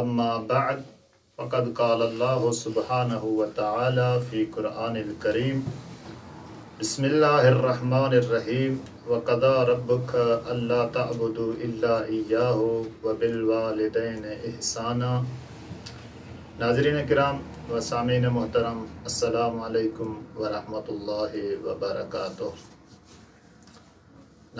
اما بعد فقد قال الله سبحانه وتعالي في قرآن الڪريم بسم الله الرحمن الرحيم وقضى ربك الا تعبدو الا اياه وبالوالدين احسانا ناظرين ڪرام و سامعين محترم السلام عليڪم ورحمة الله وبرڪاته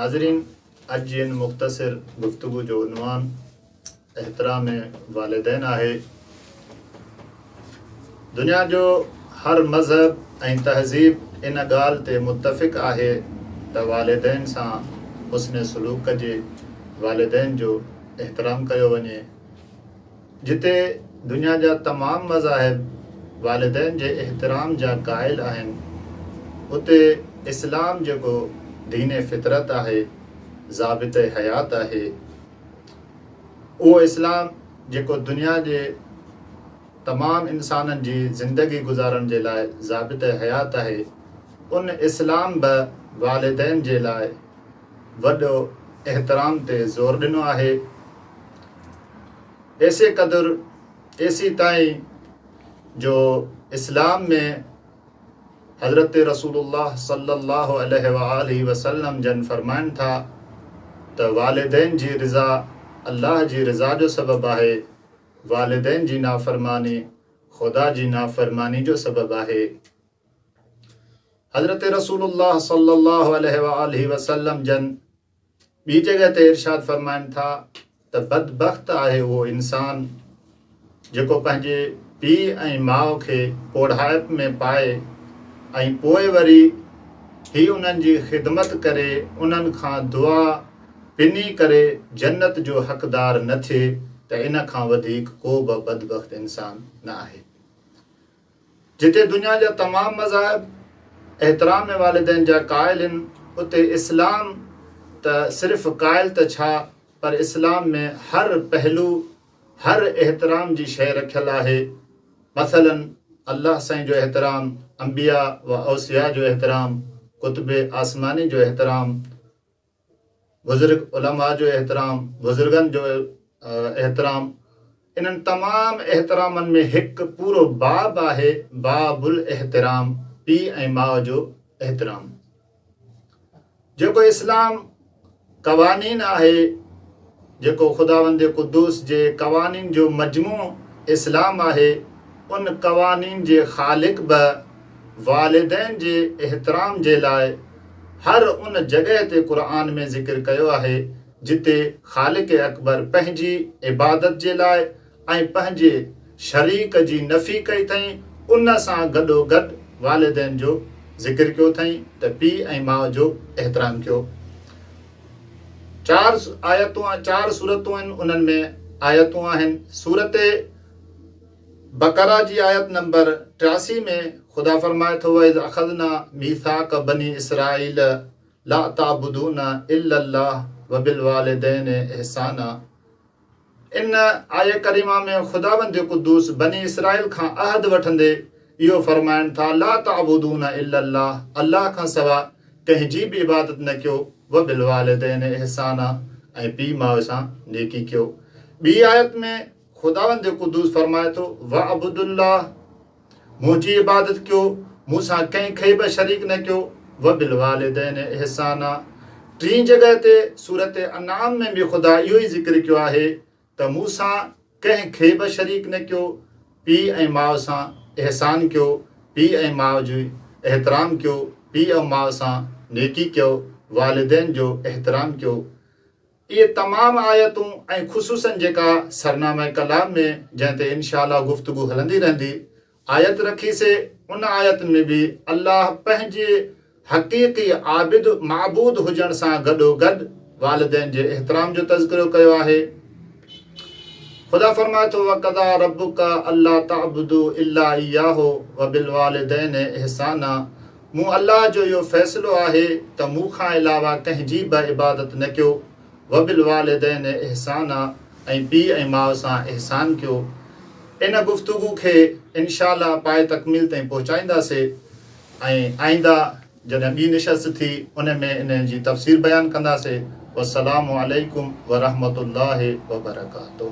ناظرين اڄ جي ان مختصر گفتگو جو عنوان احترام والدين آهي. دنيا جو هر مذهب ۽ تهذيب ان ڳالهه تي متفق آهي ته والدين سان حسن سلوڪ ڪجي، والدين جو احترام ڪيو وڃي. جتي دنيا جا تمام مذاهب والدين جي احترام جا قائل آهن، اتي اسلام جيڪو دين فطرت آهي، ضابطه حيات آهي، اهو اسلام جيڪو دنيا جي تمام انسانن جي زندگي گذارڻ جي لاء ضابط حيات آهي ان اسلام به والدين جي لاء وڏو احترام تي زور ڏنو آهي ايسي قدر ايسي تائين جو اسلام ۾ حضرت رسول الله صلي الله عليه وآله وسلم جن فرمائن ٿا ته والدين جي رضا الله جي رضا جو سبب آهي، والدين جي نافرماني خدا جي نافرماني جو سبب آهي. حضرت رسول الله صلي الله عليه وآله وسلم جن ٻي جڳهه تي ارشاد فرمائن ٿا ته بدبخت آهي اهو انسان جيڪو پنهنجي پيء ۽ ماء کي پوڙهائپ ۾ پائي ۽ پوء وري هي انهن جي خدمت ڪري انهن کان دعا پني ڪري جنت جو حقدار نه ٿئي ته ان کان وڌيڪ ڪو به بدبخت انسان نه آهي. جتي دنيا جا تمام مذاهب احترام والدين جا قائل هن اتي اسلام ته صرف قائل ته ڇا پر اسلام ۾ هر پهلو هر احترام جي شيء رکيل آهي مثلا الله سائين جو احترام انبياء و اوصياء جو احترام ڪتب آسماني جو احترام بزرگ علماء جو احترام، بزرگن جو احترام، انهن تمام احترامن ۾ هڪ پورو باب آهي باب الاحترام پيء ۽ ماء جو احترام جيڪو اسلام قوانين آهي جيڪو خداوند قدوس جي قوانين جو مجموع اسلام آهي، ان قوانين جي خالق به والدين جي احترام جي لاء هر ان جڳهه تي قرآن ۾ ذڪر ڪيو آهي جتي خالق اڪبر پنهنجي عبادت جي لاء ۽ پنهنجي شريڪ جي نفي ڪئي اٿئين، ان سان گڏوگڏ والدين جو ذڪر ڪيو اٿئين ته پيء ۽ ماء جو احترام ڪيو. چار آيتون چار سورتون آهن انهن ۾ آيتون آهن سورت بقره جي آيت نمبر ٽياسي ۾ خدا فرمائي ٿو واذ اخذنا ميثاق بني اسرائيل لا تعبدون الا الله وبالوالدين احسانا ان آيه ڪريمه ۾ خداوند قدوس بني اسرائيل کان عهد وٺندي اهو فرمائن ٿا لا تعبدون الا الله الله کان سوا ڪنهن جي به عبادت نه ڪيو وبالوالدين احسانا ۽ پي ماء سان نيڪي ڪيو ٻي آيت ۾ خداوند قدوس فرمائي ٿو واعبدوا الله منهنجي عبادت ڪيو، مون سان ڪنهن کي به شريڪ نه ڪيو، وبالوالدين احسانا ٽين جڳهه تي سورة انعام ۾ به خدا اهو ئي ذڪر ڪيو آهي ته مون سان ڪنهن کي به شريڪ نه ڪيو، پيء ۽ ماء سان احسان ڪيو، پيء ۽ ماء جو احترام ڪيو، پيء ۽ ماء سان نيڪي ڪيو، والدين جو احترام ڪيو. اهي تمام آيتون ۽ خصوصاً جيڪا سرنامه ڪلام ۾ جنهن تي ان شاء الله گفتگو هلندي رهندي آيت رکي سي ان آيت ۾ به الله پنهنجي حقيقي عابد، معبود، هجڻ سان گڏوگڏ والدين جي احترام جو تذڪرو ڪيو آهي. خدا فرمائي ٿو وقضا ربک الا تعبدو الا اياه وبالوالدين احسانا مون الله جو اهو فيصلو آهي ته مون کان علاوه ڪنهن جي به عبادت نه ڪيو، وبالوالدين احسانا ۽ پيء ۽ ماء سان احسان ڪيو. ان گفتگو کي انشاء الله پائي تڪميل تائين پهچائينداسي ۽ آئنده جڏهن ٻي نشست ٿي ان ۾ ان جي تفسير بيان ڪنداسي. والسلام عليڪم ورحمة الله وبرڪاته.